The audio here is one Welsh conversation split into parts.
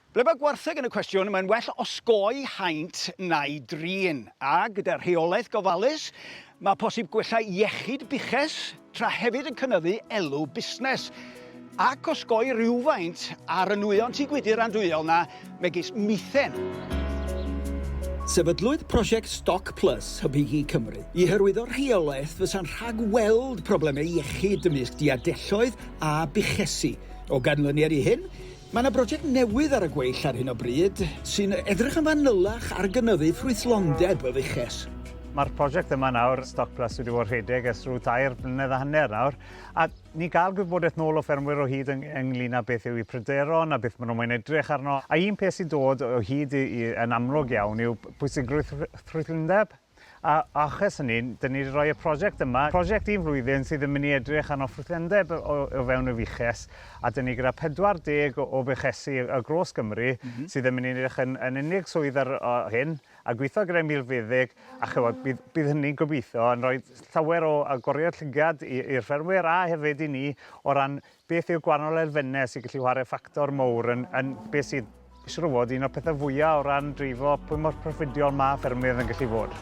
Ble mae gwartheg yn y cwestiwn, mae'n well osgoi haint na'i drin, a gyda rheolaeth gofalus, mae posib gwella iechyd buches tra hefyd yn cynyddu elw busnes ac osgoi rhywfaint ar y nwyon tŷ gwydr andwyol na, megis mithen. Sefydlwyd prosiect Stoc Plus Hybu Gi Cymru i hyrwyddo rheolaeth fysa'n rhag-weld problemau iechyd ymysg diadelloedd a buchesi, O ganlyniad i hyn, mae yna brosiect newydd ar y gweill ar hyn o bryd sy'n edrych yn fanylach ar gynyddu ffrwythlondeb y fuches. Mae'r prosiect yma nawr, Stoc Plus, wedi bod rhedeg ers rhyw tair blynedd a hanner nawr, a ni'n cael gwybodaeth nôl o ffermwyr o hyd yng- ynglyn â beth yw eu pryderon a beth maen nhw'n moyn edrych arno. A un peth sy'n dod o hyd i, i, yn amlwg iawn yw pwysigrwydd ffrwythlondeb. A achos hynny, dyn ni wedi rhoi y prosiect yma, prosiect un flwyddyn sydd yn mynd i edrych arno ffrwythendeb o o fewn y fuches, a dyn ni gyda 40 o o fuchesi ar gros Gymru... M-hm. ...sydd yn mynd i edrych yn yn unig swydd ar o hyn, a gwitho gyda'i milfeddyg, a ch'mod, bydd bydd hynny'n gobeithio yn rhoi llawer o agoriad llygad i i'r ffermwyr a hefyd i ni o ran Beth yw'r gwahanol elfennau sy'n gallu chwarae ffactor mowr yn, yn beth sydd siŵr o fod un o'r pethau fwyaf o ran dreifo pwy mor proffidiol mae ffermwyr yn gallu fod?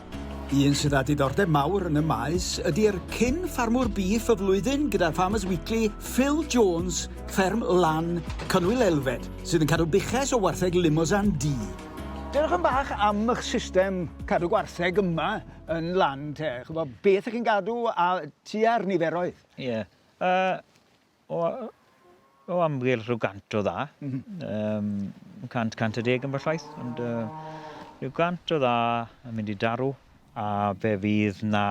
Un sydd â diddordeb mawr yn y maes ydy'r cyn ffarmwr bîff y flwyddyn gyda Farmers Weekly, Phil Jones, fferm Lan, Cynwyl Elfed, sydd yn cadw buches o wartheg Limousin D. Dewch yn bach am eich system cadw gwartheg yma yn lan te. Chwbo, beth ych chi'n gadw a tua'r niferoedd? Ie. Yeah. A o o amgylch rhyw gant o dda. Mhm. Yym cant, cant a deg ambell waith, ond yy rhyw gant o dda yn mynd i darw, a fe fydd 'na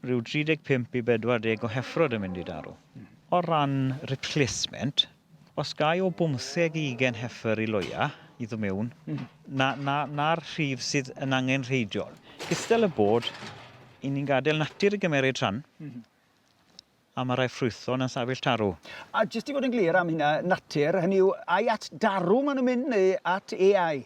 rhyw 35 i 40 o heffrod yn mynd i darw. Hmm. O ran replacement, os gai o bymtheg i ugain heffer i loia i ddod mewn, hmm. na, na, na'r rhif sydd yn angen rheidiol. Gystal y bod, 'yn ni'n gadael natur i gymmeryd rhan, hmm. A mae rhai ffrwythlon yn sefyll tarw. A jyst i fod yn glir am hynna, natur, hynny yw, ai at darw maen nhw'n mynd neu at AI?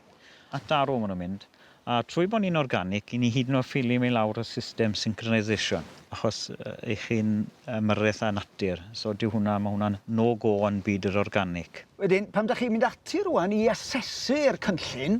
At darw maen nhw'n mynd. A trwy bod ni'n organic, i ni hyd yn oed ffilio i lawr y system synchronisation, achos i chi'n ymyrraeth â natur. So dyw hwnna, mae hwnna'n no-go yn byd yr organic. Wedyn, pan dach chi'n mynd ati rŵan i asesu'r cynllun,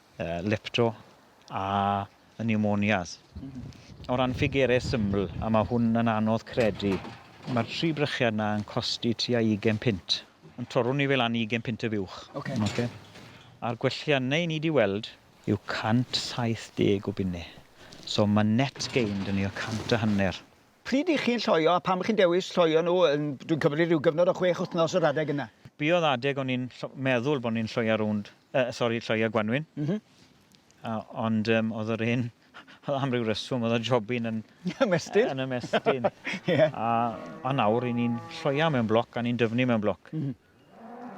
uh, lepto a y pneumonias. O ran ffigurau syml, a mae hwn yn anodd credu, mae'r tri brychiad yna yn costi tua 20 pint. Yn torwn ni fel an 20 pint y fuwch. Okay. Okay. A'r gwelliannau ni wedi weld yw 170 o bunnau. So mae net gained yn ni o 100 a hanner. Pryd ych chi'n lloio a pam ych chi'n dewis lloio nhw, dwi'n cymryd rhyw gyfnod o chwech wythnos yr adeg yna? Be oedd adeg o'n i'n meddwl bod ni'n lloio rownd, yy sori, lloio gwanwyn. M-hm. A ond yym oedd yr hen oedd am ryw reswm oedd y jobyn yn... Ymestyn? ...yn ymestyn. Ie. A a nawr 'yn ni'n lloio mewn bloc a ni'n dyfnu mewn bloc. M-hm.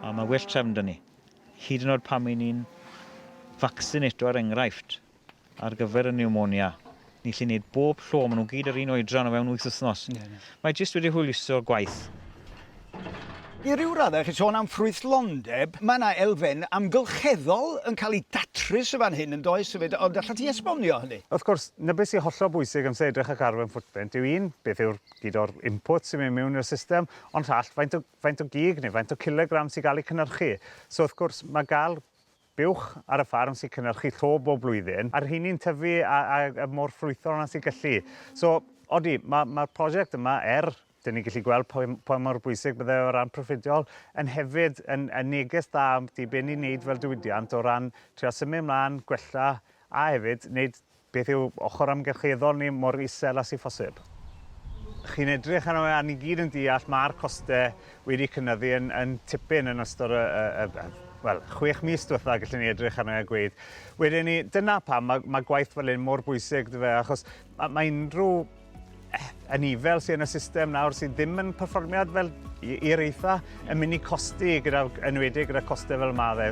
A mae well trefn da ni. Hyd yn oed pan mi ni'n faccinato ar er enghraifft ar gyfer y pneumonia, ni lli wneud bob llo, maen nhw gyd yr un oedran o fewn wyth wythnos. Yeah, yeah. Mae jyst wedi hwyluso'r gwaith. I ryw raddau, chi sôn am ffrwythlondeb, mae yna elfen amgylcheddol yn cael ei datrys y fan hyn yn does hefyd, ond allai ti esbonio hynny? Wrth gwrs, na beth sy'n hollol bwysig am edrych y carbon footprint yw un, beth yw'r gyd o'r input sy'n mynd mewn i'r system, ond rhall, faint o faint o gig neu faint o cilogram sy'n cael eu cynhyrchu. So wrth gwrs, mae gael buwch ar y ffarm sy'n cynhyrchu llo bob blwyddyn, a'r rheiny'n tyfu a, a, a mor ffrwythol na sy'n gallu. So, odi, mae'r ma prosiect yma, er dyn ni'n gallu gweld pa, pa mor bwysig bydde o ran proffidiol, yn hefyd yn, yn neges dda am di be ni'n neud fel diwydiant o ran trio symud ymlaen, gwella, a hefyd wneud Beth yw ochr amgylcheddol ni mor isel â sy'n phosib? Chi'n edrych arno fe a ni gyd yn deall mae'r costau wedi cynyddu yn, yn tipyn yn ystod y, y, y, y wel, chwech mis diwetha, gallwn ni edrych arno fe a gweud. Wedyn ni, dyna pam mae, mae gwaith fel hyn mor bwysig, dyfe, achos mae, mae unrhyw anifail sydd yn y system nawr sydd ddim yn perfformiad fel i'r eitha yn mynd i costi gyda, enwedig gyda costau fel yma fe.